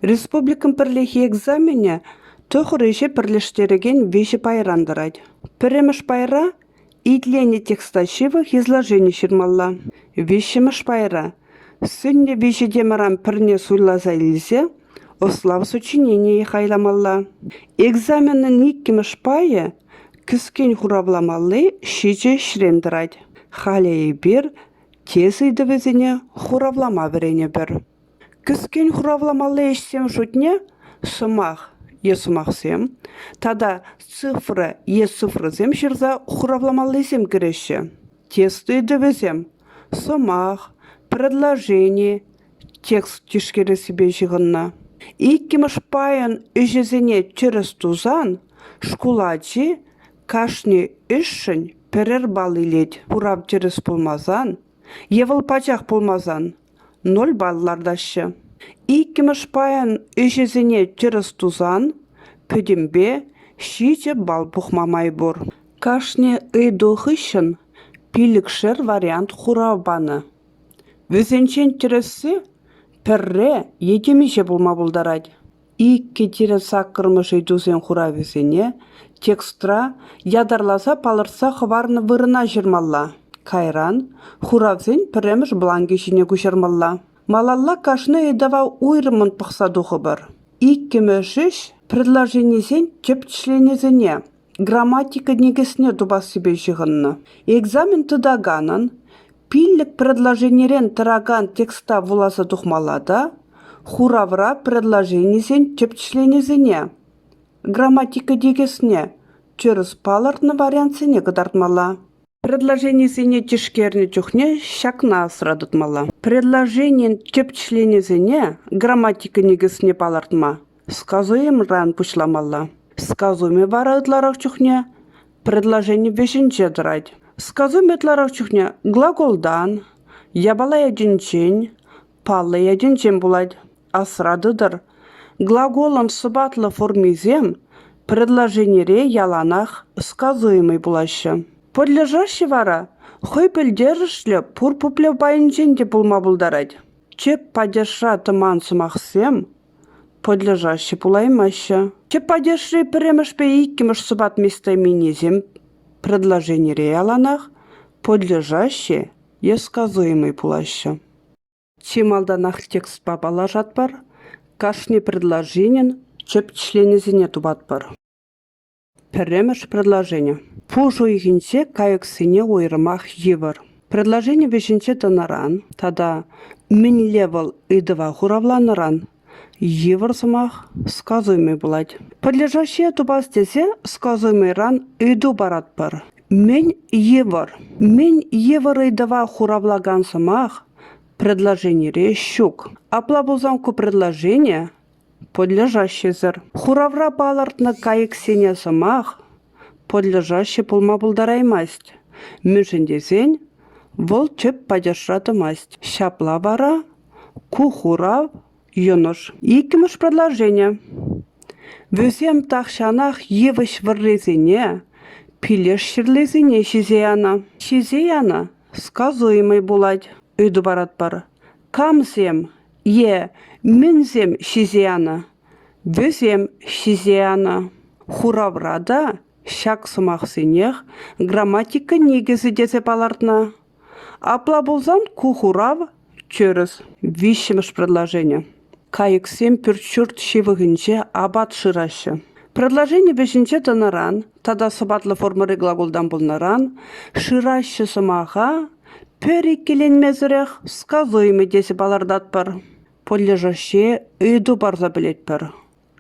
Республикӑн пӗрлехи экзаменӗ тӑхӑр ӗҫе пӗрлештерекен виҫӗ пайран тӑрать. Пӗрремӗш пайра итленӗ текста ҫывӑх изложени ҫырмалла. Виҫҫӗмӗш пайра сӗннӗ виҫӗ темӑран пӗрне суйласа илсе ӑслав сочиненийӗ хайламалла. Экзаменӑн иккӗмӗш пайӗ кӗскен хуравламалли ҫичӗ ӗҫрен тӑрать. Халӗ эпир тес ыйтӑвӗсене хуравлама вӗренӗпӗр. Кӗскен хуравламалли ӗҫсен шутне сӑмах е сӑмахсем тата цифра е цифрӑсем ҫырса хуравламаллисем кӗреҫҫӗ. Тест ыйтӑвӗсем сӑмах, предложени, текст тишкерессипе ҫыхӑннӑ. Иккӗмӗш пайӑн ӗҫӗсене тӗрӗс тусан шкул ачи кашни ӗҫшӗн пӗрер балл илет. Хурав тӗрӗс пулмасан е вӑл пачах пулмасан. ноль балл лартаҫҫӗ. Иккӗмӗш пайӑн ӗҫӗсене тӗрӗс тусан пӗтӗмпе ҫичӗ балл пухма май пур. Кашни ыйту хыҫҫӑн пилӗкшер вариант хурав панӑ. Вӗсенчен тӗрӗсси пӗрре е темиҫе пулма пултарать. Икӗ тирӗн саккӑрмӗш ыйтусен хуравӗсене текстра ятарласа палӑртса хӑварнӑ вырӑна ҫырмалла, кайран хуравсен пӗрремӗш бланкӗ ҫине куҫармалла. Малалла кашни ыйтӑва уйрӑммӑн пӑхса тухӑпӑр. Иккӗмӗш ӗҫ предложенисен тӗп членӗсене грамматика никӗсне тупассипе ҫыхӑннӑ. Экзамен тытаканӑн пиллӗк предложенирен тӑракан текста вуласа тухмалла та хуравра предложенисен тӗп членӗсене грамматика никӗсне тӗрӗс палӑртнӑ вариантсене кӑтартмалла. Предложенисене тишкернӗ чухне ҫакна асра тытмалла. Предложенин тӗп членӗсене грамматика никӗсне палӑртма сказуемӑран пуҫламалла. Сказуми вара ытларах чухне предложени вӗҫӗнче тӑрать. Сказуми ытларах чухне глаголтан, япала ятӗнчен, Паллӑ ятӗнчен пулать. Асра тытӑр. Глаголӑн сӑпатлӑ формисем предложенире яланах сказуемӑй пулаҫҫӗ. Пӗрлешеҫҫӗ вара хӑй пӗлтерӗшлӗ пур пуплев пайӗнчен те пулма пултарать. Тӗп падежра тӑман сӑмахсем пӑдлешаҫҫӗ пулаймаҫҫӗ. Тӗп падежри пӗрремӗшпе иккӗмӗш сӑпат местоименисем предложенире яланах пӑдлешаҫҫӗ е сказуемӑй пулаҫҫӗ. Чи малтанах текстпа паллашатпӑр, кашни предложенин тӗп членӗсене тупатпӑр. Пӗрремӗш предложени. Пуш уйӑхӗнче кайӑксене уйрӑмах йывӑр. Предложени вӗҫӗнче тӑнӑран тата мӗнле вӑл ыйтӑва хуравланӑран Йывӑр сӑмах сказуемӑй пулать. Подлежащее тупас тесе сказуемӑйран ыйту паратпӑр. Мӗн йывӑр? Мӗн йывӑр ыйтӑва хуравлакан сӑмах предложенире ҫук. Апла пулсан ку предложение подлежащисӗр. Хуравра палӑртнӑ кайӑксене сӑмах подлежащи пулма пултараймасть, мӗншӗн тесен вӑл тӗп падежра тӑмасть. Ҫапла вара Ку хурав йӑнӑш. Иккӗмӗш предложени. Вӗсем тахҫанах йывӑҫ вӑррисене, пилеш ҫырлисене ҫисе янӑ. Ҫисе янӑ сказуемӑй пулать. Ыйту паратпӑр. Камсем е мӗнсем ҫисе янӑ? Вӗсем ҫисе янӑ. Хуравра та ҫак сӑмахсенех грамматика никӗсӗ тесе палӑртнӑ. Апла пулсан ку хурав – тӗрӗс. Виҫҫӗмӗш предложени. Кайӑксем пӳрт-ҫурт ҫывӑхӗнче апат шыраҫҫӗ. Предложени вӗҫӗнче тӑнӑран тата сӑпатлӑ формӑри глаголтан пулнӑран шыраҫҫӗ сӑмаха пӗр иккӗленмесӗрех сказуемый тесе палӑртатпӑр. Подлежащее ыйту парса пӗлетпӗр.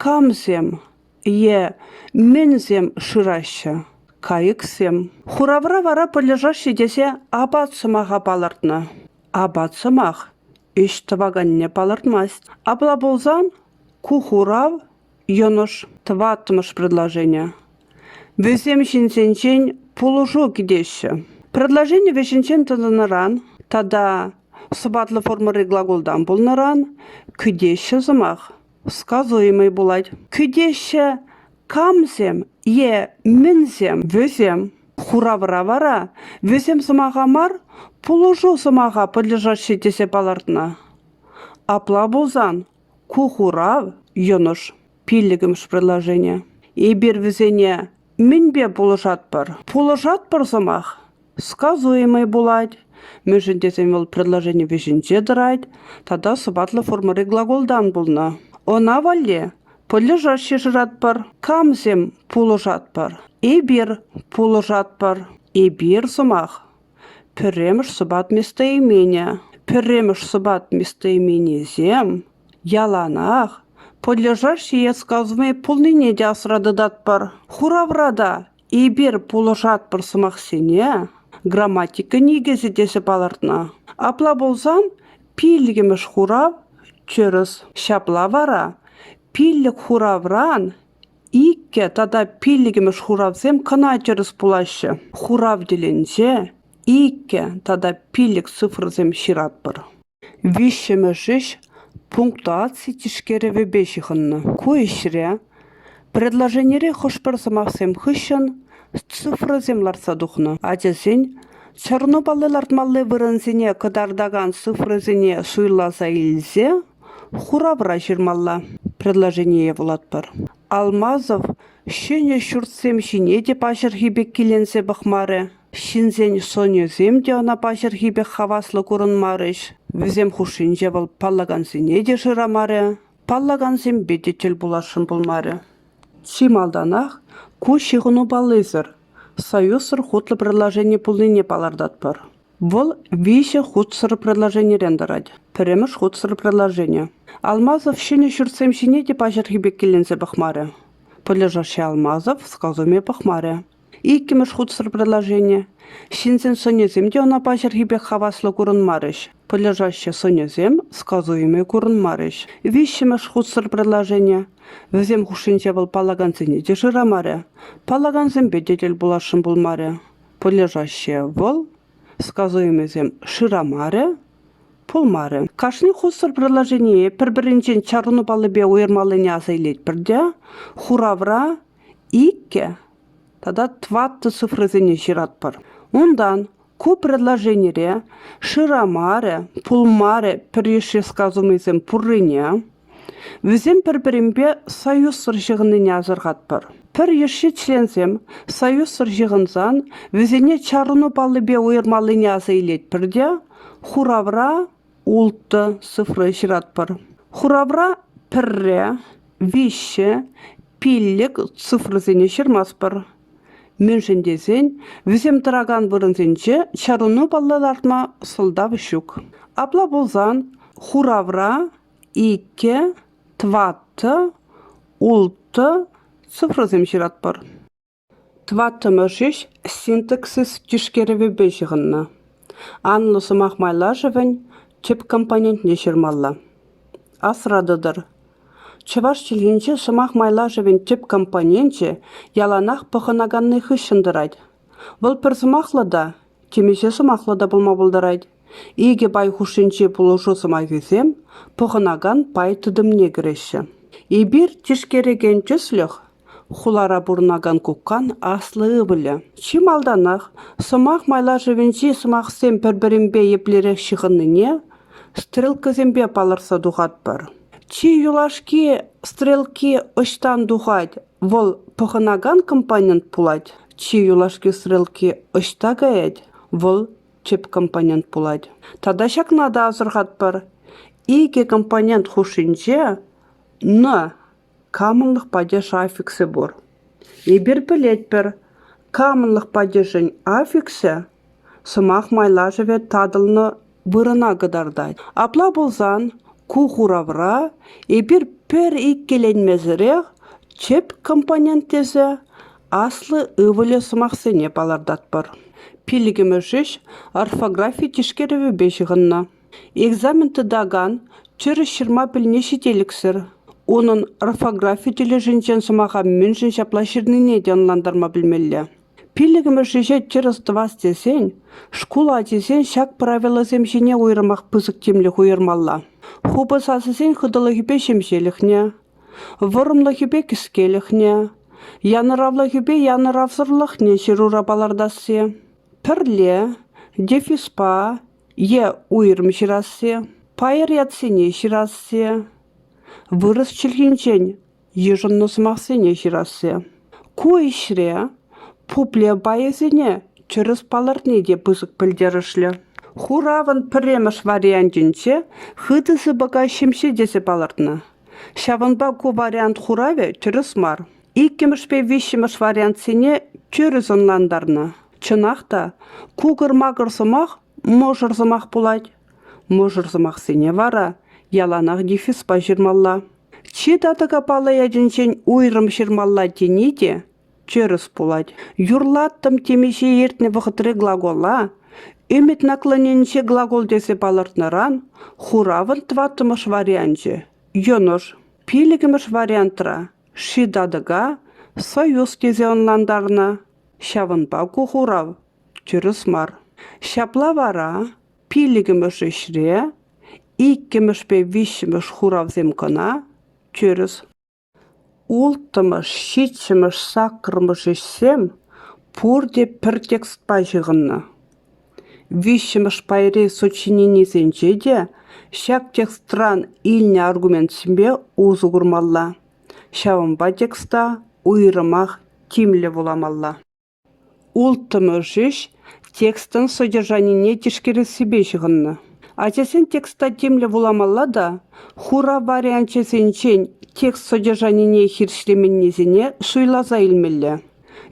камсем е мӗнсем шыраҫҫӗ, кайӑксем. Хуравра вара пӗрлешеҫҫӗ тесе апат сӑмаха палӑртнӑ. Апат сӑмах ӗҫ тӑваканне палӑртмасть. Апла пулсан ку хурав йӑнӑш тӑваттӑмӗш предложение. Вӗсем ҫынсенчен пулӑшу кӗтеҫҫӗ. Предложени вӗҫӗнчен тӑнӑран тата сӑпатлӑ формӑри глаголтан пулнӑран кӗтеҫҫӗ сӑмах. Сказуемӑй пулать. Кӳтеҫҫӗ камсем е мӗнсем вӗсем? Хуравра вара вӗсем сӑмаха мар, пулӑшу сӑмаха пӑтӑршаҫҫӗ тесе палӑртнӑ. Апла пулсан ку хурав йӑнӑш, пиллӗкмӗш предложение. Эпир вӗсене мӗнпе пулӑшатпӑр? Пулӑшатпӑр сӑмах сказуемӑй пулать, мӗншӗн тесен вӑл предложени вӗҫӗнче тӑрать тата сӑпатлӑ формӑри глаголтан пулнӑ. Ӑна валли пӗллӗшаҫҫӗ шыратпӑр, камсем пулӑшатпӑр? Эпир пулӑшатпӑр. Эпир сӑмах. Пӗрремӗш сӑпат местоимение. Пӗрремӗш сӑпат местоименисем яланах пӗллӗшаҫҫӗ е сказуемӑй пулнине те асра тытатпӑр. Хуравра та Эпир пулӑшатпӑр сӑмахсене грамматика никӗсӗ тесе палӑртнӑ. Апла пулсан пиллӗкмӗш хурав тӗрӗс. Ҫапла вара пиллӗк хуравран иккӗ тата пиллӗкмӗш хуравсем кӑна тӗрӗс пулаҫҫӗ. Хурав тӗлӗнче иккӗ тата пиллӗк цифрӑсем ҫыратпӑр. Виҫҫӗмӗш ӗҫ пунктуаци тишкерӗвӗпе ҫыхӑннӑ. Ку ӗҫре предложенире хӑш-пӗр сӑмахсем хыҫҫӑн цифрӑсем лартса тухнӑ. Ачасен чӑрмавпалли-лартмалли вырӑнсене кӑтартакан цифрӑсене суйласа илсе хуравра ҫырмалла. Предложение вулатпӑр. Алмазов ҫӗнӗ ҫуртсем ҫине те паҫӑрхи пек киленсе пӑхмарӗ. Ҫынсен сӑнӗсем те ӑна паҫӑрхи пек хаваслӑ курӑнмарӗҫ. Вӗсем хушшинче вӑл паллакансене те шырамарӗ, паллакансемпе те тӗл пуласшӑн пулмарӗ. Чи малтанах ку ҫыхӑну паллисӗр, союзсӑр хутлӑ предложени пулнине палӑртатпӑр. Вӑл виҫӗ хутсӑр предложенирен тӑрать. Пӗрремӗш хутсӑр предложени. Алмазов ҫӗнӗ ҫуртсем ҫине те паҫӑрхи пек киленсе пӑхмарӗ. Пӗлӗшӗшӗ Алмазов сказуне пӑхмарӗ. Иккӗмӗш хутсӑр предложение. Ҫынсен сӑнӗсем те ӑна паҫӑрхи пек хаваслӑ курӑнмарӗҫ. Пӑльӑшаҫҫӗ сӑнӗсем сказу илме курӑнмарӗҫ. Виҫҫӗмӗш хутсӑр предложение. Вӗсем хушшинче вӑл паллакансене те шырамарӗ, паллакансемпе те тӗл пуласшӑн пулмарӗ. Пӑльӑшаҫҫе вӑл, сказу илмесем шырамарӗ, пулмарӗ. Кашни хутсӑр предложение пӗр-пӗринчен чарӑну паллипе уйӑрмаллине аса илетпӗр те хуравра иккӗ тата тӑваттӑ цифрӑсене ҫыратпӑр. Унтан ку предложенире шырамарӗ, пулмарӗ пӗррешре сказанӑйсем пуррине, вӗсем пӗр-пӗринпе союзсӑр ҫыхӑннине асӑрхатпӑр. Пӗррешри членсем союзсӑр ҫыхӑнсан вӗсене чарӑну паллипе уйӑрмаллине аса илетпӗр те хуравра улттӑ цифра ҫыратпӑр. Хуравра пӗрре, виҫҫӗ пиллӗк цифрӑсене ҫырмастпӑр. Мӗншӗн тесен вӗсем тӑракан вырӑнсенче чарӑну палла лартма сӑлтав ҫук. Апла пулсан хуравра иккӗ, тӑваттӑ, улттӑ цифрӑсем ҫыратпӑр. Тӑваттӑмӗш ҫеҫ синтаксис тишкерӗвӗпе ҫыхӑннӑ, анлӑ сӑмах майлашӑвӗн тӗп компонентне ҫырмалла. Асра тытӑр: чӑваш чӗлхинче сӑмах майлашӑвӗн тӗп компоненчӗ яланах пӑхӑнаканни хыҫҫӑн тӑрать. Вӑл пӗр сӑмахлӑ та, темиҫе сӑмахлӑ та пулма пултарать. Икӗ пай хушшинчи пулӑшу сӑмахӗсем пӑхӑнакан пай тытӑмне кӗреҫҫӗ. Эпир тишкерекен тӗслӗх Хулара пурӑнакан кукан аслӑ ывӑлӗ. Чи малтанах сӑмах майлашӑвӗнчи сӑмахсем пӗр-пӗринпе еплерех ҫыхӑннине стрелкӑсемпе палӑртса тухатпӑр. Чи юлашки стрелки ӑҫтан тухать? Вӑл пӑхӑнакан компонент пулать. Чи юлашки стрелки ӑҫта каять? Вӑл тӗп компонент пулать. Тата ҫакна та асӑрхатпӑр: икӗ компонент хушшинче «н» Камӑнлӑх падеша аффиксӗ пур. Эпир пӗлетпӗр, камӑнлӑх падешӗн аффиксӗ сӑмах майлашӑвӗ татӑлнӑ вырӑна кӑтартать. Апла пулсан ку хуравра эпир пӗр иккӗленмесӗрех чӗп компонент тесе аслӑ ывӑлӗ сӑмахсене палӑртатпӑр. Пиллӗкмӗш ӗҫ орфографи тишкерӗвӗпе ҫыхӑннӑ. Экзамен тытакан тӗрӗс ҫырма пӗлни ҫителӗксӗр, унӑн орфографи тӗлӗшӗнчен сӑмаха мӗншӗн ҫапла ҫырнине те ӑнлантарма пӗлмелле. Пиллӗкмӗш ӗҫе тӗрӗс тӑвас тесен шкул ачисен ҫак правилӑсем ҫине уйрӑмах пысӑк тимлӗх уйӑрмалла. Хупӑ сасӑсен хытӑлӑхӗпе ҫемҫелӗхне, вӑрӑмлӑхӗпе кӗскелӗхне, янӑравлӑхӗпе янӑравсӑрлӑхне ҫырура палӑртасси, пӗрле, дефиспа, е уйрӑм ҫырасси, пайӑр ятсене ҫырасси, вырӑс чӗлхинчен йышӑннӑ сӑмахсене ҫырасси. Ку ӗҫре пуплев пайӗсене тӗрӗс палӑртни те пысӑк пӗлтерӗшлӗ. Хуравӑн пӗрремӗш вариантӗнче хытӑ сыпӑка ҫемҫе тесе палӑртнӑ. Ҫавӑнпа ку вариант хуравӗ тӗрӗс мар. Иккӗмӗшпе виҫҫӗмӗш вариантсене тӗрӗс ӑнлантарнӑ. Чӑнах та, кукӑр-макӑр сӑмах мӑшӑр сӑмах пулать. Мӑшӑр сӑмахсене вара яланах дефиспа ҫырмалла. Чи татӑка паллӑ ячӗнчен уйрӑм ҫырмалла тени те тӗрӗс пулать. Юрлаттӑм темиҫе иртнӗ вӑхӑтри глагола ӗмӗт наклоненче глагол тесе палӑртнӑран хуравӑн тӑваттӑмӗш варианчӗ йӑнӑш. Пиллӗкмӗш вариантра ши татӑка союз тесе ӑнлантарнӑ. Ҫавӑнпа ку хурав тӗрӗс мар. Ҫапла вара пиллӗкмӗш ӗҫре иккӗмӗшпе виҫҫӗмӗш хуравсем кӑна тӗрӗс. Улттӑмӗш, ҫиччӗмӗш, саккӑрмӗш ӗҫсем пурте пӗр текстпа ҫыхӑннӑ. Виҫҫӗмӗш пайри сочиненисенче те ҫак текстран илнӗ аргументсемпе усӑ курмалла. Ҫавӑнпа текста уйрӑмах тимлӗ вуламалла. Улттӑмӗш ӗҫ текстӑн содержанине тишкерессипе ҫыхӑннӑ. Ачасен текста тимлӗ вуламалла та хурав варианчӗсенчен текст содержанине хирӗҫлеменнисене суйласа илмелле.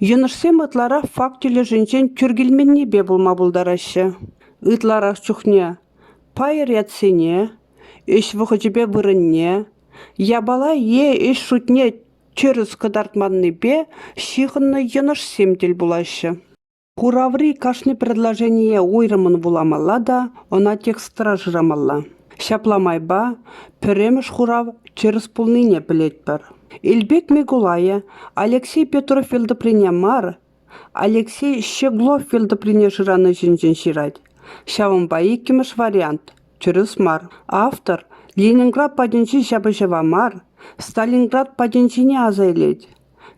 Йӑнӑшсем ытларах факт тӗлӗшӗнчен тӳр килменнипе пулма пултараҫҫӗ. Ытларах чухне пайӑр ятсене, Ӗҫ вӑхӑчӗпе вырӑнне, япала е ӗҫ шутне тӗрӗс кӑтартманнипе ҫыхӑннӑ йӑнӑшсем тӗл пулаҫҫӗ. Кураври кашни предложение уйрӑммӑн вуламалла та ӑна текстра шырамалла. Ҫапла майпа пӗрремӗш хурав тӗрӗс пулнине пӗлетпӗр. Илпек Микулайӗ Алексей Петрофьев тӑприне мар, Алексей Щеглов фил тӑприне шыранӑ ҫинчен ҫырать. Ҫавӑнпа иккӗмӗш вариант – тӗрӗс мар. Автор Ленинград патӗнчи ҫапӑҫӑва мар, Сталинград патӗнчине аса илет.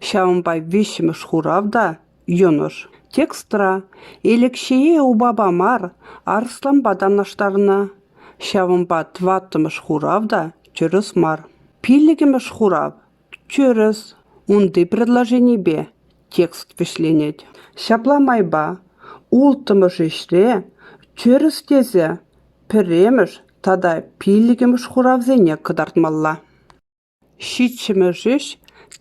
Ҫавӑнпа виҫҫӗмӗш хурав та – йӑнӑш. Текстра Элекҫее упапа мар, арӑсланпа танлаштарнӑ. Ҫавӑнпа тӑваттӑмӗш хурав та – тӗрӗс мар. Пиллӗкӗмӗш хурав Тӗрӗс, унти предложенипе текст вӗҫленет. Ҫапла майпа улттӑмӗш ӗҫре тӗрӗс тесе пӗрремӗш тата пиллӗкмӗш хуравсене кӑтартмалла. Ҫиччӗмӗш ӗҫ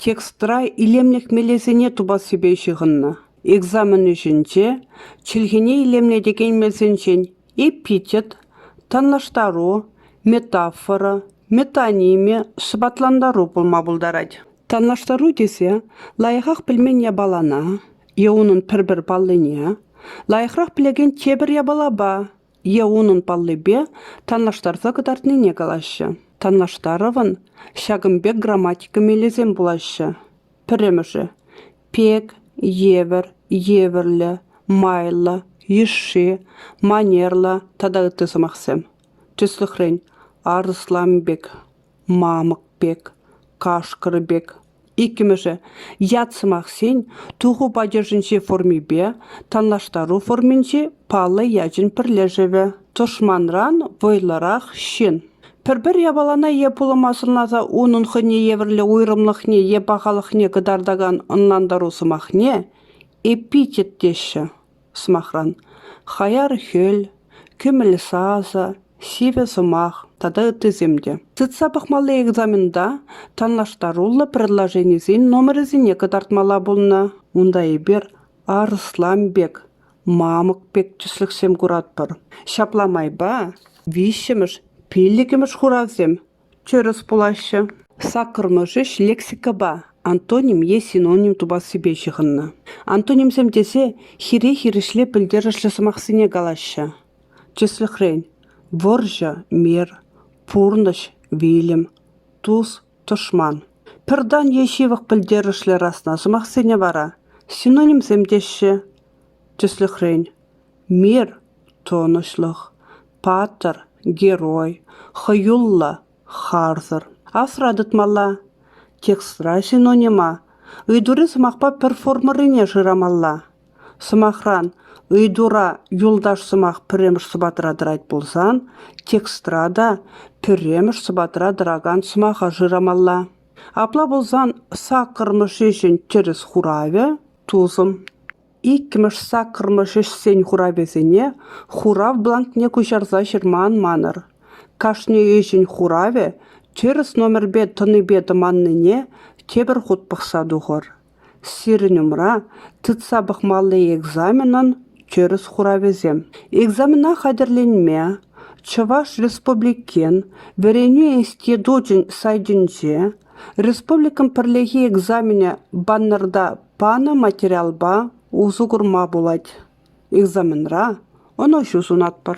текстра илемлӗх мелӗсене тупассипе ҫыхӑннӑ. Экзамен ӗҫӗнче чӗлхене илемлетекен мелсенчен Эпитет – танлаштару, метафора, метоними, сӑпатлантару пулма пултарать. Танлаштару тесе лайӑхах пӗлмен япалана е унӑн пӗр-пӗр паллине, лайӑхрах пӗлекен тепӗр япалапа е унӑн паллипе танлаштарса кӑтартнине калаҫҫӗ. Танлаштарӑвӑн ҫакӑн пек грамматика мелӗсем пулаҫҫӗ. Пӗрремӗшӗ – пек, евӗр, евӗрлӗ, майлӑ, йышши, манерлӑ тата ытти сӑмахсем. Тӗслӗхрен, арӑслан пек, мамӑк пек, кашкӑр пек. Иккӗмӗшӗ – ят сӑмахсен туху падежӗнчи формипе танлаштару форминчи паллӑ ячӗн пӗрлешӗвӗ. Тӑшманран вӑйлӑрах ҫын. Пӗр-пӗр япалана е пулӑма сӑнласа унӑн хӑйне евӗрлӗ уйрӑмлӑхне е пахалӑхне кӑтартакан ӑнлантару сӑмахне эпитет теҫҫӗ. Сӑмахран, хаяр хӗл, кӗмӗл сасӑ, сивӗ сӑмах тата ыттисем те. Тытса пӑхмалли экзамента танлаштаруллӑ предложенисен номерӗсене кӑтартмалла пулнӑ. Унта эпир Арслан пек Мамӑк пек тӗслӗхсем куратпӑр. Ҫапла майпа виҫҫӗмӗш, пиллӗкӗмӗш хуравсем тӗрӗс пулаҫҫӗ. Саккӑрмӗш ӗҫ лексикӑпа антоним е синоним тупассипе ҫыхӑннӑ. Антонимсем тесе хире хирӗҫле пӗлтерӗшлӗ сӑмахсене калаҫҫӗ. Тӗслӗхрен: вӑрҫӑ – мир, пурнӑҫ – вилӗм, тус Тӑшман, пӗр тан е ҫывӑх пӗлтерӗшлӗ расна сӑмахсене вара синонимсем теҫҫӗ. Тӗслӗхрен, мир – тӑнӑҫлӑх, паттӑр – герой, хӑюллӑ – харсӑр. Асра тытмалла. Текстра синонима ыйтури сӑмахпа пӗр формӑррине шырамалла. Сӑмахран, ыйтура юлташ сӑмах пӗрремӗш сӑпатра тӑрать пулсан, текстра та пӗрремӗш сӑпатра тӑракан сӑмаха шырамалла. Апла пулсан саккӑрмӗш ӗҫӗн тӗрӗс хуравӗ – тусӑм. Иккӗмӗш саккӑрмӗш ӗҫсен хуравӗсене хурав бланкне куҫарса ҫырма ан манӑр. Кашни ӗҫӗн хуравӗ тӗрӗс номерпе тӑнипе тӑманнине тепӗр хут пӑхса тухӑр. Сирӗн умра тытса пӑхмалли экзаменӑн тӗрӗс хуравӗсем. Экзамена хатӗрленме Чӑваш Республикин Вӗренӳ институчӗн сайтӗнче республикӑн пӗрлехи экзаменӗ баннерта панӑ материалпа усӑ курма пулать. Экзаменра ӑнӑҫу сунатпӑр!